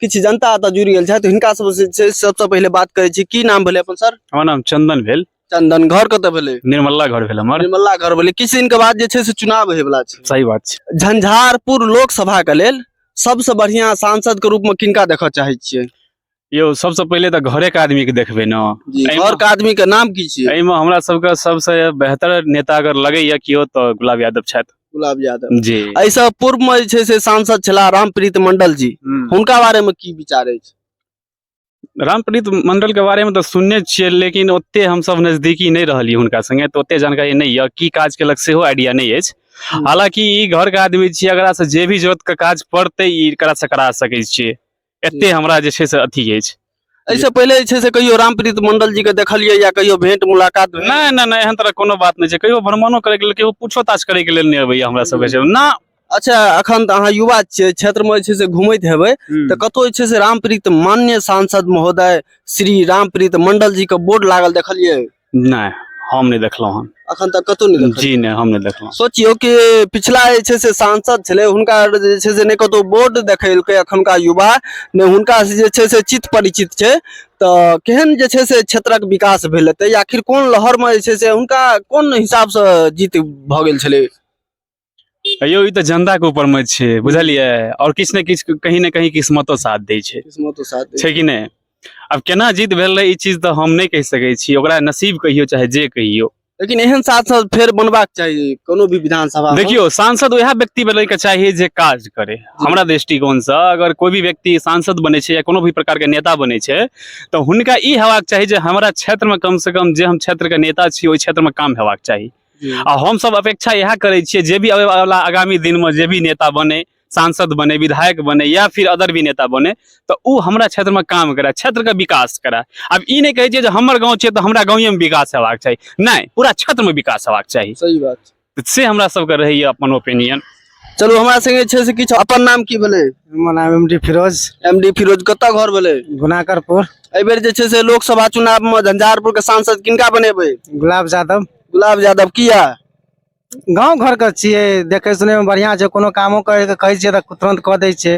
किछु जनता एतऽ जुड़ि गेल छथि हिनका सब से छै सबसँ पहिले बात करै छी की नाम भेलै अपन सर हमर नाम चंदन भेल चंदन घर कतऽ भेलै निर्मला घर भेल हमर निर्मला घर भेलै किछु दिनके बाद जे छै से चुनाव होय वला छै सही बात छै झंझारपुर लोकसभा के लेल सबसँ बढ़िया सांसद के रूप में किनका देखऽ चाहै छियै यौ सबसँ पहिले तऽ घरे के आदमी के देखबै ने जी एहिमे- घर के आदमी के नाम की छियै एहिमे हमरा सबके सबसँ बेहतर नेता अगर लगैया केओ तऽ गुलाब यादव छथि गुलाब यादव जी एहिसँ पूर्व में जे छै से सांसद छलाह रामप्रीत मंडल जी हम्म। हुनका बारे में की विचार अछि रामप्रीत मंडल के बारे में तो सुनने छियै लेकिन ओते हम सब नजदीकी नहीं रहलियै हुनका संगे तो ओते जानकारी नहीं यऽ की काज केलक सेहो आइडिया नहीं अछि हम्म। हालांकि ई घर के आदमी छियै एकरा से जे भी जरूरत के काज पड़तै ई एकरा से करा सकै छियै एते हमरा जे छै से अथी अछि एहिसँ पहिले जे छै से कहियो रामप्रीत मंडल जी के देखलियै या कहियो भेंट मुलाकात भेल? नहि नहि नहि एहन तरह कोनो बात नहि छै कहियो भ्रमणो करैके लेल कहियो पूछो ताछ करैके लेल नहि अबैया हमरा सबके छै ना अच्छा अखन तऽ अहाँ युवा छियै क्षेत्र मे जे छै से घुमैत हेबै हम्म। तऽ कतौ जे छै से रामप्रीत मान्य सांसद महोदय श्री रामप्रीत मंडल जी के बोर्ड लागल देखलियै नहि हम नहि देखलहुँ हन अखन तक कतौ नहि देखलियै। जी नहि हम नहि देखलहुँ सोचियौ कि पिछला जे छै से सांसद छलै हुनका जे छै से नहि कतौ बोर्ड देखेलकै अखुनका युवा ने हुनका से जे छै से चित परिचित छै तऽ केहन जे छै से क्षेत्रक विकास भेल हेतै आखिर कोन लहरमे जे छै से हुनका कोन हिसाबसँ जीत भऽ गेल छलै यौ ई तऽ जनता के ऊपर में छै बुझलियै और किछु ने किछु कहीं ने कहीं किस्मतो साथ दै छै किस्मतो साथ दै छै कि नहि आब केना जीत भेल रहे ई चीज तऽ हम नहि कहि सकै छी ओकरा नसीब कहियो चाहे जे कहियो लेकिन एहन सांसद फेर बनबाक चाही कोनो भी विधानसभा देखियो सांसद वएह व्यक्ति बने के चाहिए जे काज करे हमरा दृष्टिकोण से अगर कोई भी व्यक्ति सांसद बने छै या कोनो भी प्रकार के नेता बने छै तऽ हुनका ई हेबाक चाही जे हमरा क्षेत्र में कम से कम जे हम क्षेत्र के नेता छी ओहि क्षेत्र में काम हेबाक चाही आ हमसभ अपेक्षा इएह करै छियै जे भी अबैवला आगामी दिनमे जे भी नेता बने सांसद बने विधायक बने या फिर अदर भी नेता बने तऽ ओ हमरा क्षेत्रमे काम करे क्षेत्रके विकास करे आब ई नहि कहै छियै जे हमर गाँव छै तऽ हमरा गाँवेमे विकास हेबाक चाही नहि पूरा क्षेत्रमे विकास हेबाक चाही सही बात से हमरा सबके रहैए अपन ओपिनियन चलू हमरा संगे छै से किछु अपन नाम की भेलै हमर नाम M D Firoz M D Firoz कतऽ घर भेलै गुनाकरपुर एहि बेर जे छै से लोकसभा चुनाव मे झंझारपुर के सांसद किनका बनेबै गुलाब यादव गुलाब यादव किया गाँव घरके छियै देखै सुनैमे बढ़िआँ छै कोनो कामो करैके कहै छियै तऽ तुरन्त कऽ दै छै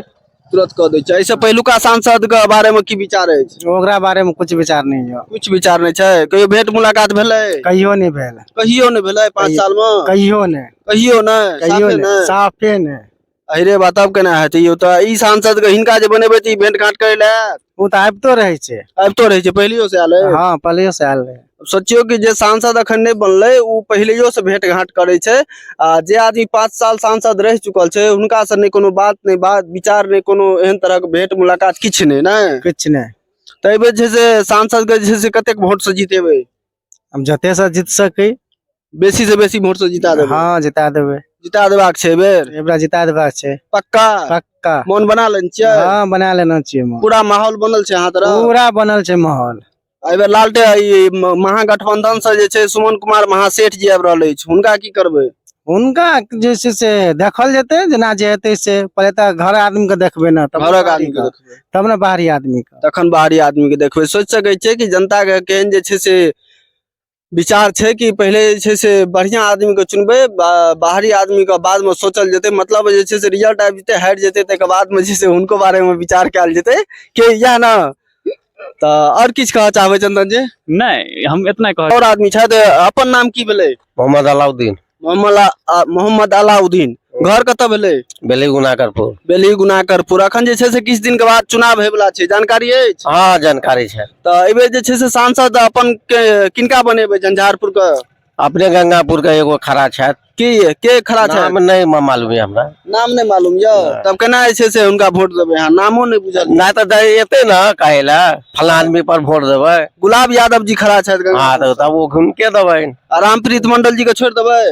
तुरंत कऽ दै छै एहिसँ पहिलुका सांसद के बारे मे की विचार अछि ओकरा बारे में कुछ विचार नहीं है कुछ विचार नहि छै कहियो भेंट मुलाकात भेलै कहियो नहीं भेल कहियो नहि भेलै पाँच कहियो- साल मे कहियो नहीं कहियो नहि कहियो साफे नहीं साफे नहीं अरे बात अब केना हेतै यौ तऽ ई सांसद के हिनका जे बनेबै तऽ ई भेंट घाट करै लए आयत? ओ तऽ आबितो रहै छै आबितो रहै छै पहिलैयो से आयल अइ हँ पहिलैयो से आयल रहै सोचियौ कि जे सांसद अखन नहि बनलै ओ पहिलैयो से भेंट घाट करै छै आ जे आदमी पाँच साल सांसद रहि चुकल छै हुनका से नहि कोनो बात नहि बात विचार नहि कोनो एहन तरहक भेंट मुलाकात किछु नहि ने किछु नहि तऽ एहिबेर जे छै से सांसद के जे छै से कतेक वोट से जीतेबै हम जते से जीत सकी बेसी से बेसी वोट से जिता देबै हाँ जिता देबै जिता देबाक छै एहि बेर एहि बेरा जिता देबाक छै पक्का पक्का मोन बना लेने छियै हाँ बना लेना चाहिए मोहन पूरा माहौल बनल छै अहाँ तरफ पूरा बनल छै माहौल एहि बेर लालटे ई म- महागठबंधन से जे छै सुमन कुमार महासेठ जी आबि रहल अछि हुनका की करबै हुनका जे छै से देखल जेतै जेना जे हेतै से पहिले तऽ घर आदमीके देखबै ने तब घरक आदमी के देखबै तब ने बाहरी आदमीके तखन बाहरी आदमी के देखबै सोचि सकै छियै कि जनता के केहन जे छै से विचार छै कि पहिले जे छै से बढ़िया आदमी के चुनबै बा- बाहरी आदमी के बाद में सोचल जेतै मतलब जे छै से रिजल्ट आबि जेतै हारि जेतै तकर बाद में जे छै से हुनको बारे में विचार कयल जेतै के इएह ने तऽ आओर किछु कहऽ चाहबै चंदन जी नहि हम इतना कह आओर आदमी छथि अपन नाम की भेलै मोहम्मद अलाउद्दीन मोहम्मद अला- आ- मोहम्मद अलाउद्दीन घर कतऽ भेलै बेली गुनाकरपुर बेली गुनाकरपुर अखन जे छै से किछु दिन के बाद चुनाव होय वाला छै जानकारी अछि हाँ जानकारी छै तऽ एहिबेर जे छै से सांसद अपन के- किनका बनेबै झंझारपुर के अपने गंगापुर के एगो खड़ा छथि की ये? के खड़ा छै नाम नहि म- मालूम यऽ हमरा नाम नहि मालूम यौ तब केना जे छै से हुनका वोट देबै अहाँ नामो नहि बुझल नहि तऽ दै- एतै ने कहै लए फलां आदमी पर वोट देबै गुलाब यादव जी खड़ा छथि गंगा हँ तऽ तब ओ हुनके देबै आ रामप्रीत मंडल जी के छोड़ि देबै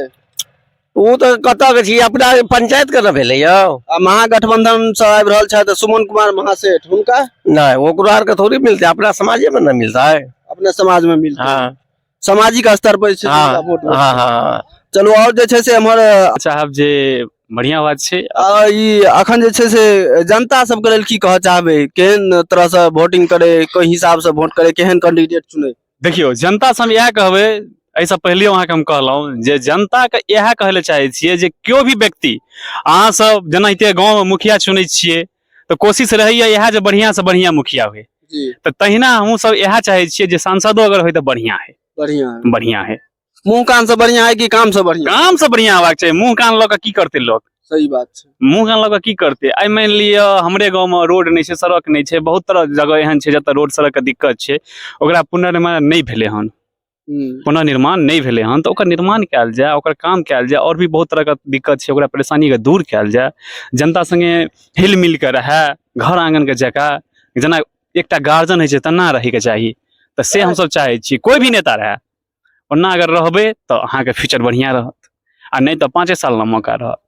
ओ तऽ कतऽ के छी अपना पंचायत के ने भेलै यौ आ महागठबंधन से आबि रहल छथि सुमन कुमार महासेठ हुनका नहि ओकरो आरके थोड़ी मिलतै अपना समाजेमे ने मिलतै अपने समाज में मिलते हाँ सामाजिक स्तर पर जे छै से हाँ, हुनका वोट हाँ, हाँ। चलू आओर जे छै से एम्हर चाहब जे बढ़िया बात छै आ, ई अखन जे छै से जनता सबके लेल की कहऽ चाहबै केहन तरहसँ वोटिंग करे कोन हिसाबसँ वोट करे केहन कैंडिडेट चुने देखियौ जनता से हम इएह कहबै एहिसँ पहिले अहाँके हम कहलहुँ जे जनताके इएह कहै लए चाहै छियै जे केओ भी व्यक्ति अहाँ सब जेनाहिते गाँवमे मुखिया चुनै छियै तऽ कोशिश रहैया इएह जे बढ़िया से बढ़िया मुखिया हुए जी तऽ तहिना हमहूँ सब इएह चाहे छियै जे सांसदो अगर होय तऽ बढ़िया है बढ़िया है बढ़िया है मुंह कान से बढ़िया है कि काम से बढ़िया काम से बढ़िया हेबाक चाही मुंह कान लऽ कऽ की करतै लोक सही बात छै मुंह कान लऽ कऽ की करतै आइ मानि लिअ हमरे गाँवमे रोड नहि छै सड़क नहि छै बहुत तरह जगह एहन छै जतऽ रोड सड़कके दिक्कत छै ओकरा पुनर्निर्माण नहि भेलै हन पुनर्निर्माण नहि भेलै हन तऽ ओकर निर्माण कयल जाय ओकर काम कयल जाय आओर भी बहुत तरहके दिक्कत छै ओकरा परेशानीके दूर कयल जाय जनता सङ्गे हिल मिल कऽ रहए घर आङ्गनके जकाँ जेना एकटा गार्जियन होइ छै तेना रहैके चाही तऽ से हमसभ चाहै छी कोइ भी नेता रहए ओना अगर रहबै तऽ अहाँके फ्यूचर बढ़िआँ रहत आ नहि तऽ पाँचे साल लए मौका रहत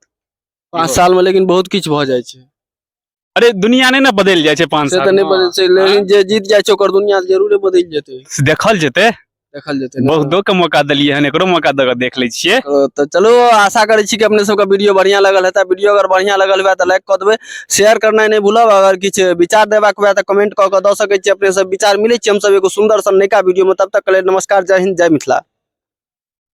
पाँच सालमे लेकिन बहुत किछु भऽ जाइ छै अरे दुनिया नहि ने बदलि जाइ छै पाँच से साल तऽ नहि बदल छै लेकिन जे जीत जाइ छै ओकर दुनिया तऽ जरूरे बदलि जेतै से देखल जेतै देखल जेतै ने। बहुतो के मौका देलियै हन एकरो मौका दऽ कऽ देख लै छियै ओ, तऽ चलो आशा करै छी कि अपने सबके वीडियो बढ़िया लगल हेतै वीडियो अगर बढ़िया लगल हुए तऽ लाइक कऽ देबै शेयर करनाइ नहि भूलब अगर किछु विचार देबाक हुए तऽ कमेंट कऽ कऽ दऽ सकै छी अपने सब विचार मिलै छी हमसब एगो सुंदर सन नयका वीडियो में तब तक के लेल नमस्कार जय हिंद जय मिथिला